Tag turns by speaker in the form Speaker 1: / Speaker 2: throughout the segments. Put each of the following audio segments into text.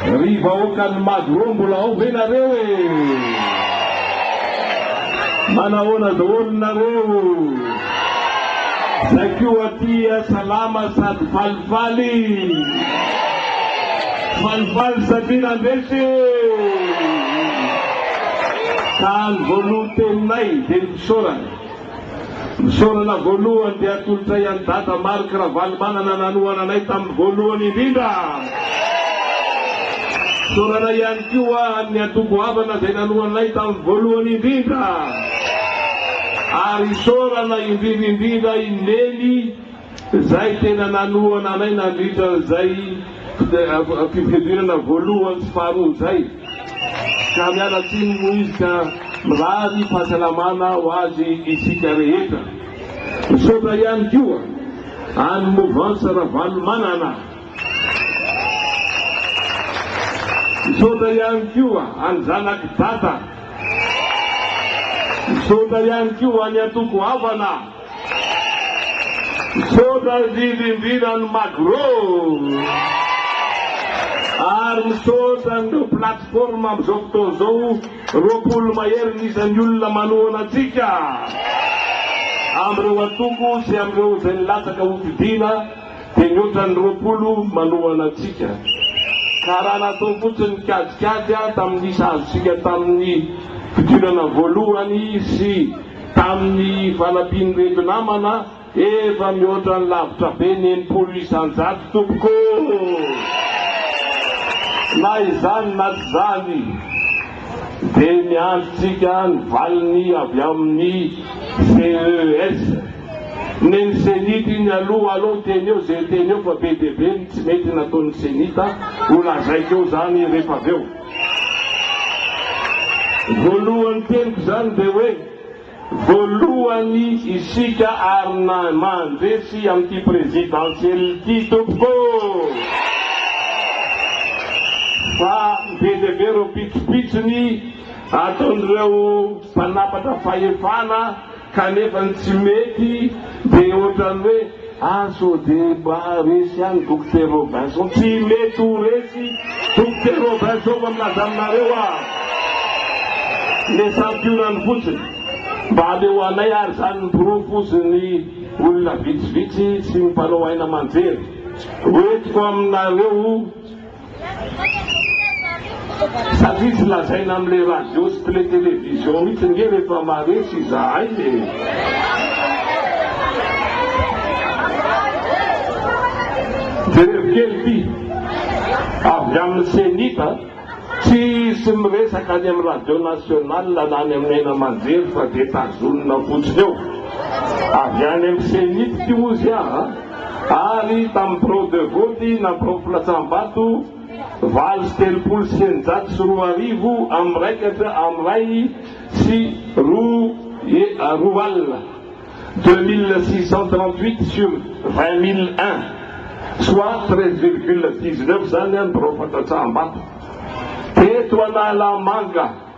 Speaker 1: Ry vahoakan'i Magro mbola ao ve nareo e? Manahoana daholo nareo? Zay koa aty salama sady falifaly. Falifaly satria nandresy e! Ka ny voalohan-teninay dia ny fisaorana. Fisaorana voalohany dia atolotray an'i Dada Marc Ravalomanana nanohana anay tamin'ny voalohany indrindra. Fisaorana ihany koa an'ny antoko havana izay nanohana anay tamin'ny voalohany indrindra. Ary isaorana indrindra indrindra i Nelly, Izay tena nanohana anay nandritra izay fifidianana voalohany sy faharoa izay, ka miala tsiny moa izy ka mirary fahasalamana ho azy isika rehetra. Misaotra ihany koa an'i Mouvance Ravalomanana. Misaotra ihany koa an'i Zanak'i Dada. Misaotra ihany koa an'i Antoko Havana. Misaotra indrindra indrindra ny Magro ary misaotra an'ireo plateforme amin'izao fotoana izao roapolo mahery ny isan'ny olona manohana antsika amin'ireo antoko sy amin'ireo izay nilatsaka hotodiana dia mihoatra ny roapolo manohana antsika ka raha natao fotsiny ny kajikajy tamin'ny isa azontsika tamin'ny fidinana voalohany sy Tamin'ny fanampian'ireto namana, efa mihoatra ny lavitra be ny enimpolo isan-jato tompoko! Na izany na tsy izany, dia miandry tsika ny valiny avy amin'ny CES. Ny ny CENIT iny aloha, alou teny eo izay teny eo fa be dia be ny tsy mety nataon'ny CENIT, ho lazaiko eo izany rehefa avy eo. Voalohany teniko izany dia hoe voalohany isika ary mandresy amin'ity présidentielle ity tompoko fa be dia be ireo pitsopitsony ataon'ireo mpanapatra fahefana, Kanefa ny tsy mety dia ohatran'ny hoe a so de mba resy ihany Dokotera Robinson. Tsy mety ho resy Dokotera Robinson fa milaza aminareo aho. Nesampiorany fotsiny. Mba aleoanay ary izany ny porofozin'ny olona vitsivitsy sy ny mpanao haina aman-jery hoentiko aminareo. Satria tsy lazaina am le radio sy tlé télévision mitsy nge refa maresy izahay e! Jereo kely ty avy aminy cenit a! Tsy hisy miresaka any am radio national na any aminy haino aman-jery fa de tazonina fotsiny eo! Avy any am cenit ty ozy aa! ary tamin'ny birao de vote na birao filatsahambato valo sy telopolo sy eninjato sy roa arivo amby miraikatra amby iray sy roa roa alina, deux mille six cent trente-huit sur vingt mille un, soit treize virgule dix-neuf izany ny birao fantatsaham-bato teto Analamanga.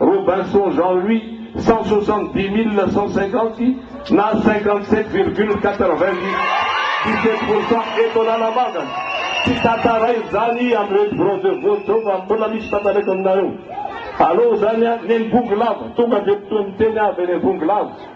Speaker 1: Robinson Jean Louis, cent soixante dix mille cent cinquante na cinquante sept virgule quatre vingt dix sept pour cent eto Analamanga. Tsy tantara izany amin'ireto bronzés voajo fa mbola misy tantaraiko aminareo. Alou izany an, neny Bongolava, tonga dia miteny avy eny Bongolava.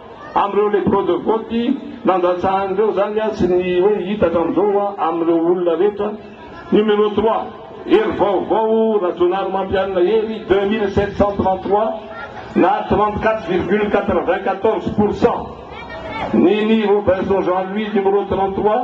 Speaker 1: Amin'ireo les bureaux de vote nandatsahany ireo izany aho sy ny hoe hita hatramin'izao hoa amin'ireo olona rehetra. Numéro trois, Hery vaovao Rajaonarimampianina Hery deux mille sept cent trente trois na trente quatre virgule quatre vingt quatorze pour cent. Nini Robinson Jean Louis numéro trente trois,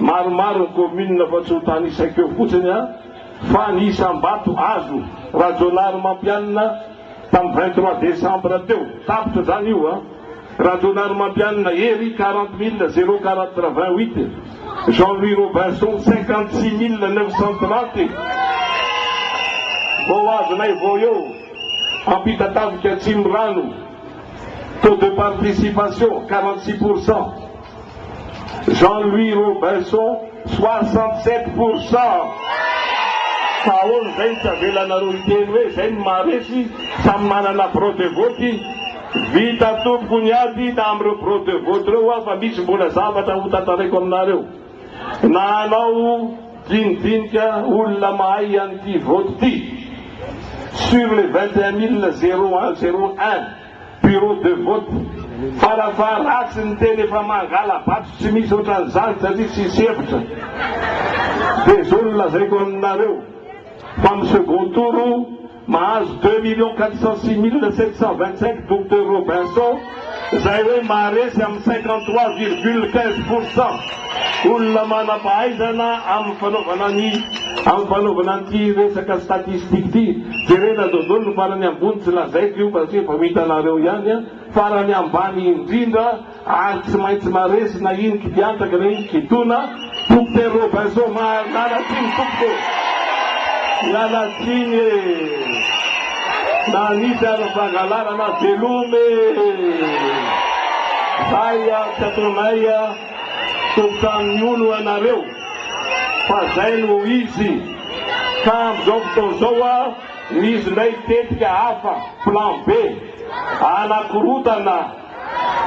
Speaker 1: Maromaro ny kaominina fa tsy ho tanisako eo fotsiny an, fa ny isam-bato azo Rajaonary Mampianina tamin'ny vingt trois décembre teo, tapitra izany io an, Rajaonary Mampianina Hery quarante mille zéro quatre vingt huit, Jean Louis Robinson cinquante six mille neuf cent trente, vao azonay vao eo, Ampitatavika Atsimondrano, taux de participation quarante six pour cent. Jean Louis Robinson soixante sept pour cent fa ahoana izay no tsy avelanareo hiteny hoe izay no maharesy, samy manana bureau de vote, vita tompoko ny ady tamin'ireo bureau de vote ireo aho fa misy mbola zavatra ho tantaraiko aminareo na hanao dinidinika olona mahay an'ity vote ity sur les vingt et un mille zéro un zéro un. Bureau de vote. Fara faha ratsy ny teny efa mangala bato tsy misy ohatran'izany satria tsisy hevitra. Dia zao no lazaiko aminareo fa amin'ny second tour mahazo deux millions quatre cent six mille sept cent vingt cinq Docteur Robinson izay hoe maharesy amin'ny cinquante trois virgule quinze pour cent. olona manam-pahaizana amin'ny fanaovana ny amin'ny fanaovana an'ity resaka statistique ity. Jerena izao daholo ny farany ambony, tsy lazaiko io fa satria efa ho hitanareo ihany an. Farany ambany indrindra ary tsy maintsy maresy na iny kidiantaka na iny kitona. Docteur Robinson miala tsiny tompoko ô! Miala tsiny e! Na nisy aza fangalarana veloma e! Zay an, tsy ataonay an. Tobka amin'ny hono ianareo fa zay no izy ka amin'izao fotoana izao ho'a misy indray tetika hafa, plan B, hanakorotana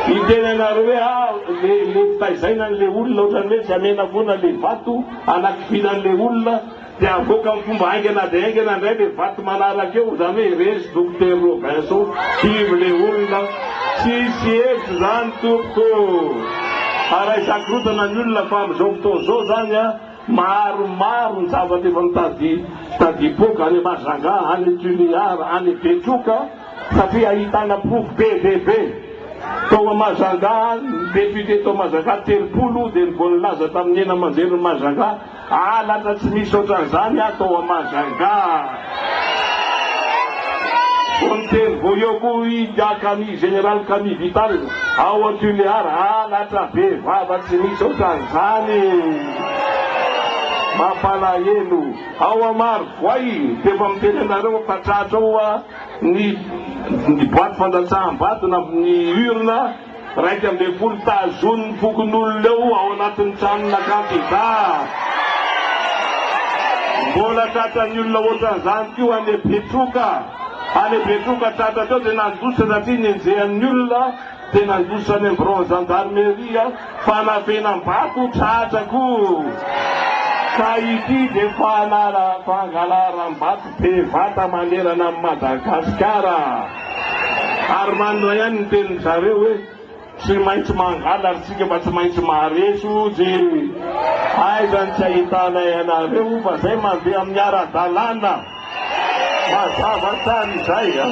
Speaker 1: ny tenanareo hoe a le le fitaizaina an'le olona ohatran'ny hoe tsy amenavona le vato hanakifiana an'le olona, Dia avoaka amin'ny fomba haingana dia haingana indray ilay vato manaraka eo, izany hoe resy Dokotera Robinson, kivy ilay olona, tsisy hevitra izany tompoko oh! Ary ahisakorontana ny olona fa amin'izao fotoana izao izany an, maromaro ny zavatra efa mitady tadipoaka any Majunga, any Toliar, any Betroka satria ahitana porofo be dia be. Tao Majunga, ny député tao Majunga telopolo dia ny voalaza tamin'ny hena aman-jery ny Majunga, Aa lasa tsy misy otran'zany ato ao a Majunga a! Vao niteny vao eo koa i Diakami Général Kami Vital ao a Tuléar aa latra be vava tsy misy otran'zany! Mampalahelo! Ao a Marovoay dia efa miteny anareo ampatratra ao a ny boite fandatsaham-bato na ny urne Iraika ambin'ny folo Tazonin'ny fokonolona eo ao anatin'ny tranon'akaty za. Mbola tratran'ny olona ohatran'izany koa any Betroka. Any Betroka tratra teo dia nandositra satria nenjehan'ny olona dia nandositra any amin'ny biraon'ny zandarimeria fanafenam-bato tratra koa. Ka ity dia fanala-pangalaram-bato. bevata manerana an'i Madagasikara ary manina ihany ny tenin'ny zareo hoe tsy maintsy mangala ry tsika fa tsy maintsy maharesy ojy aiza ny tsy ahitanay anareo fa zay mandeha amin'ny ara-dalàna mazava tsara izay a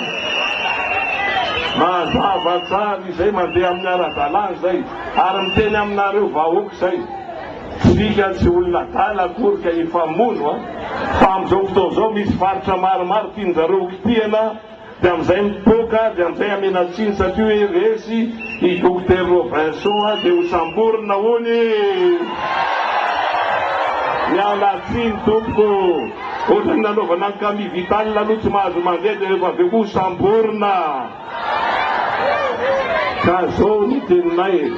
Speaker 1: mazava tsara izay mandeha amin'ny ara-dalàna izay ary miteny aminareo vahoaka izay Tsika tsy olona adala akory ka hifamono a! Fa amin'izao fotoana izao misy faritra maromaro tiany zareo ho kitihana dia amin'izay mipoaka dia amin'izay amena tsiny satria hoe resy i Docteur Robinson a! Dia ho samborina hono i! Miala tsiny tompoko o! Ohatran'ny nanaovana an'i Camille Vital aloha tsy mahazo mandeha dia rehefa avy eo koa ho samborina! Ka zao ny teninay e!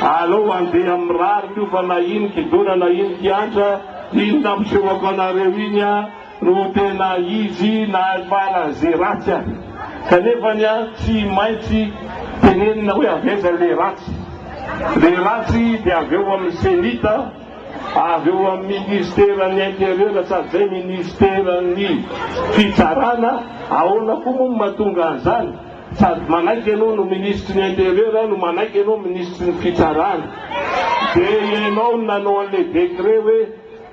Speaker 1: Alao andeha mirary ko fa na iny kidona na iny kiantra iny nampisehoko anareo iny a no tena izy nahafara ze ratsy a! Kanefany a tsy maintsy tenenina hoe avy aiza le ratsy? Le ratsy de avy ao amin'ny cenit a! Avy eo amin'ny minisiteran'ny interieur tsy adizay minisiteran'ny fitsarana, ahoana koa moa no mahatonga an'izany? Sady manaiky ianao no minisitry ny interieur no manaiky ianao minisitry ny fitsarana. Dia ianao no nanao an'ilay décret hoe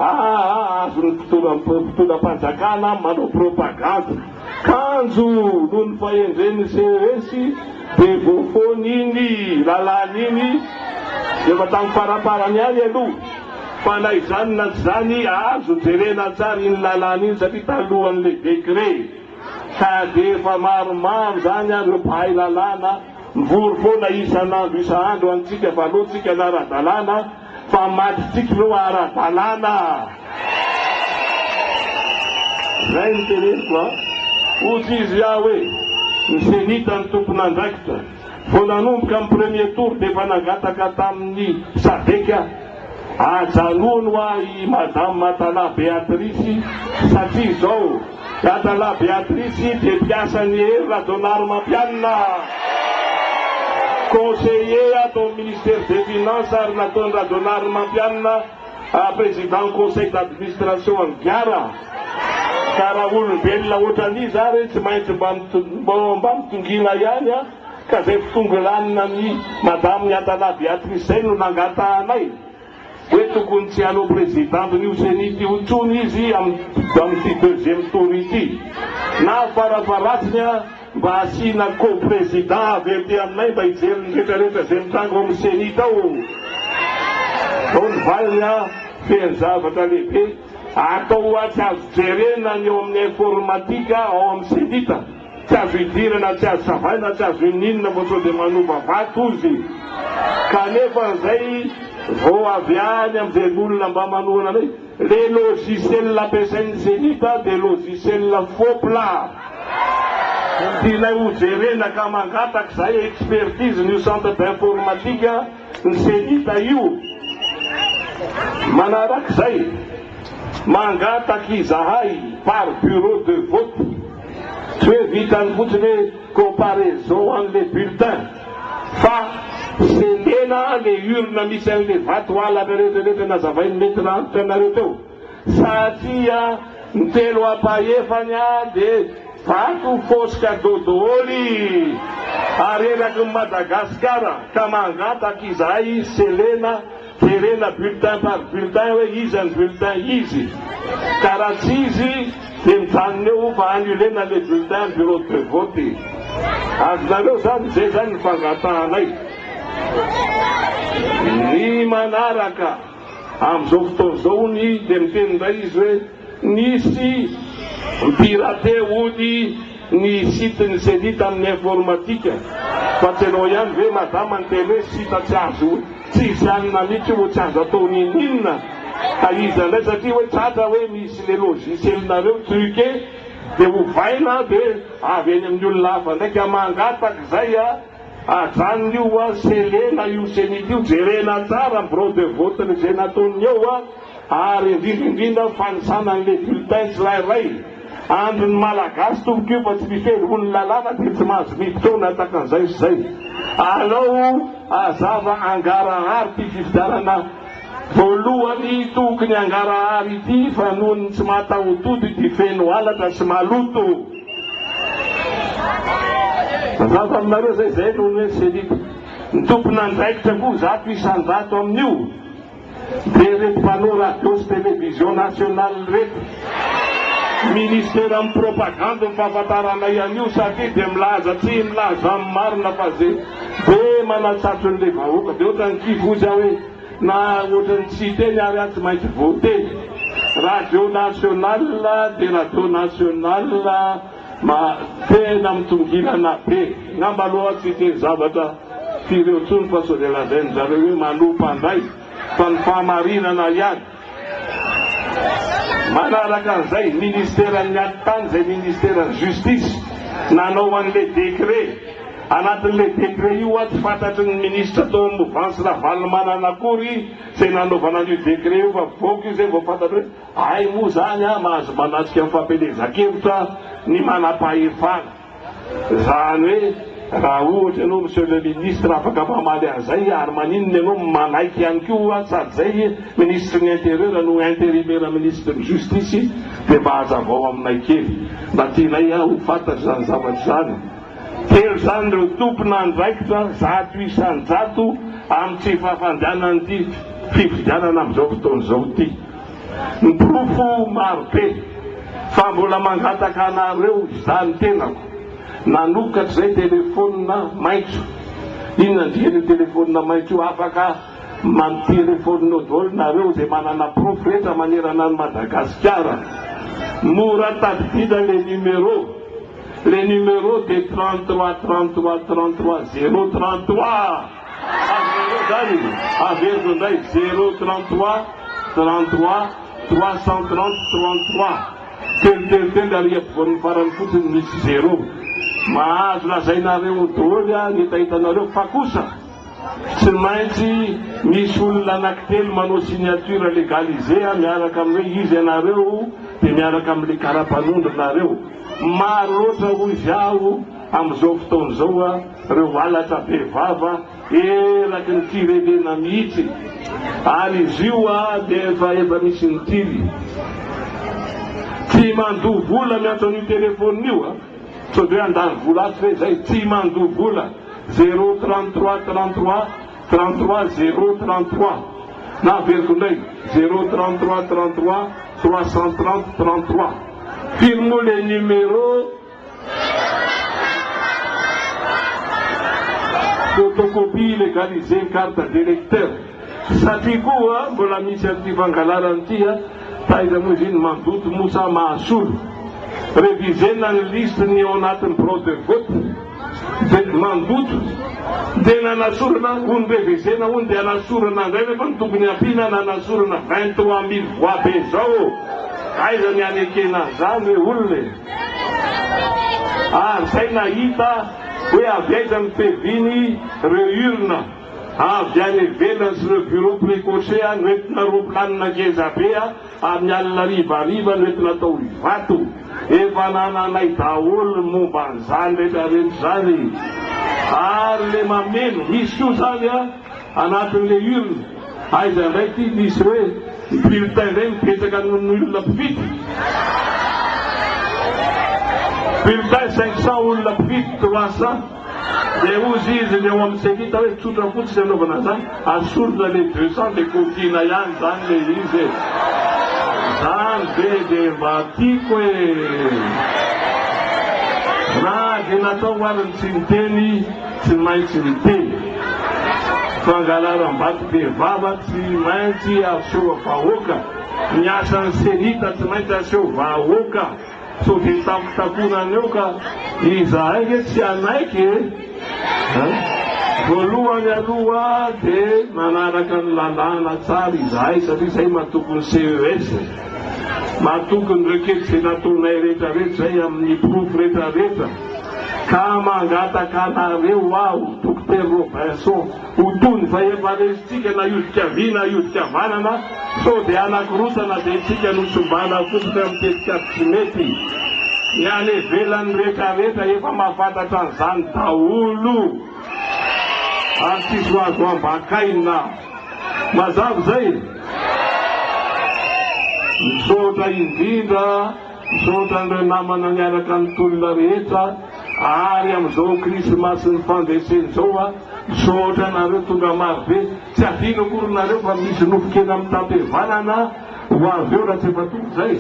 Speaker 1: aa azon'ny mpitondram-panjakana manao propagande. Kanjo noho ny fahendren'ny CES dia voafoana iny lalàna iny efa tamin'ny faramparany ihany aloha fa na izany na tsy izany azo jerena tsara iny lalàna iny satria talohan'ilay décret ka dia efa maromaro izany ary ireo mpahay lalàna mivory foana isan'andro isan'andro antsika fa aleontsika ny ara-dalàna fa maditiko ireo ara-dalàna. Izay no teneniko an! Hoy izy aho hoe, ny Cenita no tompon'andraikitra. Vao nanomboka ny premier tour dia efa nangataka tamin'ny Sadec aho, ajanony ho ahy i Madame Matala Beatrice satria izao, Dadalahy Beatrice dia mpiasan'i Hery Rajaonarimampianina, conseiller ato amin'ny Ministère des Finances ary nataon'i Rajaonarimampianina président conseil d'administration an'i Gara. Ka raha olombelona ohatran'iza ary e, tsy maintsy mba mba mitongina ihany an! Ka izay fitongilanina an'i Madame Niantalahy Beatrice izay no nangatahanay. Hoe tokony tsy hanao president nio ceni ty otsony izy am ty deuxième tour ity. Na farafaratsiny a mba asiana co president avy aty aminay mba hijery ny retra retra zay mitranga ao am ceni tao. Zao ny valiny a, feno zavatra lehibe atao oa tsy azo jerena ny ao aminy informatique ao am ceni ta. Tsy azo idirana, tsy azo savaina, tsy azo ininona vao sao dia manova vato ozy. Kanefa izay vao avy any amin'ny velon'olona mba manohana anay. Le logiciel ampiasain'ny zenith dia logiciel fopla. Tianay ho jerena ka mangataka izahay expertise n'io centre d'informatique ny zenith io. Manarak'izay, mangataka izahay par bureau de vote. Tsy hoe vitan'ny fotsiny hoe comparaison an'ilay bulletin fa sendrena le urne misy an'ilay vato halatra rehetra rehetra nazavain'ny maitre antitra anareo teo satria ny telo ampahefany any de vato fausse cadeau doholy ary eraky ny Madagasikara ka mangataka izahay selena Jerena bulletin par bulletin hoe iza ny bulletin izy ka raha tsy izy dia mijanona eo fa annulena le bulletin bureau de vote. Azonareo zany izay zany ny fangatahanay ny manaraka. Amin'izao fotoana izao hono i dia miteny indray izy hoe. Nisy mpirate ody ny site ny Ceni tamin'ny informatika fa tsy ianao ihany ve madama niteny hoe site tsy azo tsisy alina mitsy io tsy azo atao ninininona ka iza indray satria hoe tratra hoe misy le logiciel nareo truque de ovaina de avy any amin'ny olona hafa indray ka mangataka izay a ajanona io a selena io Ceni io jerena tsara ny brode vote ny izay nataony eo a ary indrindra indrindra ny fanisana an'ilay bulletin tsirairay andro ny malagasy tompoko io fa tsy misy hoe olo lalàna dia tsy mahazo miditra ao na takan'izay sy izay alao azava angarahary ity fifidianana voalohany toky ny angarahary ity fa noho ny tsy mahatahotody dia feno halatra sy maloto mazava aminareo zay zay noho ny hoe selita ny tompon'andraikitra koa zato isan-jato amin'io Dia ireto mpanao radio sy television national ireto, ministera amin'ny propagandy ny fahafantaranay an'io satria dia milaza tsy milaza amin'ny marina fa ze be manatsatso an'ilay vahoaka dia ohatran'ny kifoza hoe na ohatran'ny tsy hiteny ary aho tsy maintsy voateny. Radio national dia radio national. Ma, tena mitongilana be. Ngamba aloha tsy hiteny zavatra firy eo intsony fa sao dia lazain-dry zareo hoe manoa mpandray fa ny fahamarinana ihany. Manaraka an'izay, ministeran'ny atitany izay ministeran'ny justice nanao an'ilay décret. Anatin'ilay décret io atsy fantatry ny ministra tao amin'ny movansy Ravalomanana akory izay nanaovana an'io décret io fa voky io izay vao fantatry hoe. Hay moa zany a mahazo manatrika ny fampielezan-kevitra ny manam-pahefana. Zany hoe raha ohatra ianao Monsieur le Ministre afaka mamaly an'izay ary maninona ianao manaiky ihany koa a sady zay Ministre ny Intérieur no interimera Ministre ny Justice dia mba hazavao aminay kely mba tianay a ho fantatro izany zavatra izany. Telo zany ireo tompon'andraikitra zato isan-jato amin'ny tsy fahafandehanan'ity fifidianana amin'izao fotoana izao ity. Ny porofo maro be fa mbola mangataka anareo izany tenako. Nanokatra izay telefonina maitso. Inona ny dikan'io telefonina maitso io? Afaka mampielefôninô dôly nareo izay manana porofo rehetra manerana an'i Madagasikara. Mora tadidina le numéro. Le numéro de 33 33 33 zéro 33. Azonareo zany averina indray zero trente trois trente trois trois cent trente trente trois telo telo telo ary ampovoan'ny farany fotsiny misy zero. Mahazo lazainareo doly ny hetahetanareo fa kosa tsy maintsy misy olona anakitelo manao signature legalisé miaraka amin'ny hoe iza ianareo dia miaraka amin'ilay karapanondronareo. Maro loatra hoy izy aho. Amin'izao fotoana izao a, ireo halatra be vava eraky ny firenena mihitsy ary izy io a dia efa efa misy ny tily. Tsy mandoa vola miantso an'io telephone io a, sao dia hoe handany vola ato ve izay, tsy mandoa vola, zéro trente trois trente trois trente trois zéro trente trois na averiko indray zéro trente trois trente trois trois cent trente trente trois, firy moa le numéro? photocopie legalisée carte d'électeur satria koa mbola misy an'ity fangalarana ity a! taiza moa izy iny mazoto moa sa mahasolo? revisena ny liste ny ao anatin'ny birao de vote de mandoto de nanasorana hono revisena hono de anasorana indray nefa ny tokony hampiana nanasorana vingt trois mille voix be zao ô! aiza ny hanekena an'izany hoe olona e! ary izay nahita hoe avy aiza ny tv-ny reo urne avy any ivelany sy reo bureau precoce noentina roplanina ngeza be amin'ny alina hariva hariva noentina atao ivato efa nananay daholo ny momba an'izany rehetra rehetra izany ary le mameno misy koa izany an anatin'ilay urne, aiza indray ity misy hoe bulletin indray mipetraka noho ny olona mpifidy? Bulletin cinq cents olona mpifidy trois cents dia hozy izy ny ao amin'ny cenita hoe tsotra fotsiny anaovana an'izany, asorina ilay deux cents dia kotiana ihany izany ilay izy e! Izany ve dia mba tiako e! Raha dia natao ary ny tsy niteny. Tsy maintsy miteny fangalaram-bato be vava tsy maintsy aseho vahoaka ny asan'ny Cenita tsy maintsy aseho vahoaka sao dia tampitakoana any eo ka izahay ve tsy hanaiky e? Voalohany aloha dia manaraka ny lalàna tsara izahay satria izahay matoky ny CES matoky ny requete izay nataonay rehetra rehetra izay amin'ny porofo rehetra rehetra. Ka mangataka anareo aho, Dokotera Robinson, ho toy ny fahefa resintsika na hiodika havia na hiodika havanana, sao dia hanakorontana be tsika no tsy mba hanafositra amin'ny tetikady tsy mety. Ny any ivelany rehetra rehetra efa mahafantatra an'izany daholo ary tsisy ho azo ambakaina. Mazava izay? Misaotra indrindra. Misaotra an'ireo namana niaraka ny tolona rehetra ary amin'izao krisimasin'ny fandreseny izao a! Misaotra anareo tonga marobe, tsy hadino akory nareo fa misy nofon-kena amin'ny tapevanana ho avy eo raha tsy efa tonga izay.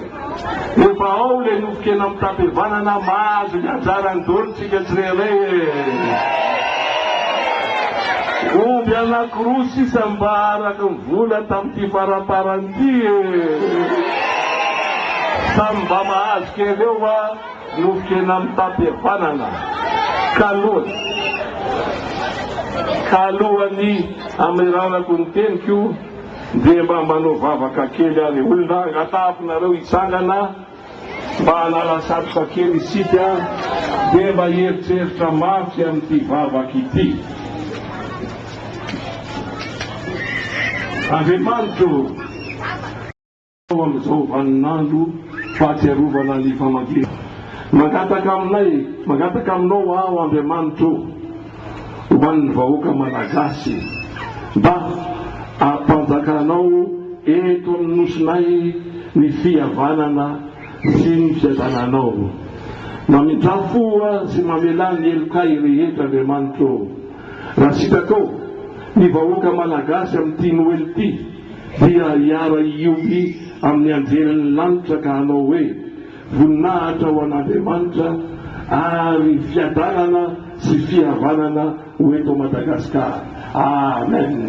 Speaker 1: Efa ao ilay nofon-kena amin'ny tapevanana, mahazo ny ajarany daholo isika tsirairay e! Omby anankiroa sisa mba araka ny vola tamin'ity faramparan'ny. Ty e! Samy mba mahazo kely eo va nofon-kena mitam-pihavanana? Kaloany! Kaloany! Ameranako ny teniko, dia mba manao vavaka kely ary olon-draha angatahako nareo hitsangana, Mba hanala satroka kely isika dia mba hieritreritra mafy amin'ity vavaka ity. Andriamanitra ô! Ao amin'izao vaninandro fahatsiarovana ny famangiana. Mangataka aminay, mangataka aminao aho Andriamanitra ô! Ho an'ny vahoaka Malagasy mba ampanjakanao eto amin'ny Nosinay ny fihavanana sy ny fiadananao. Mamindrà fo sy mamelà ny helokay rehetra Andriamanitra ô. Raha sitraka ô, ny vahoaka Malagasy amin'ity Noely ity dia hiara-hiompy amin'ny anjelin'ny lanitra ka hanao hoe, Voninahitra ho an'Andriamanitra ary fiadanana sy fihavanana ho eto Madagascar. Amen.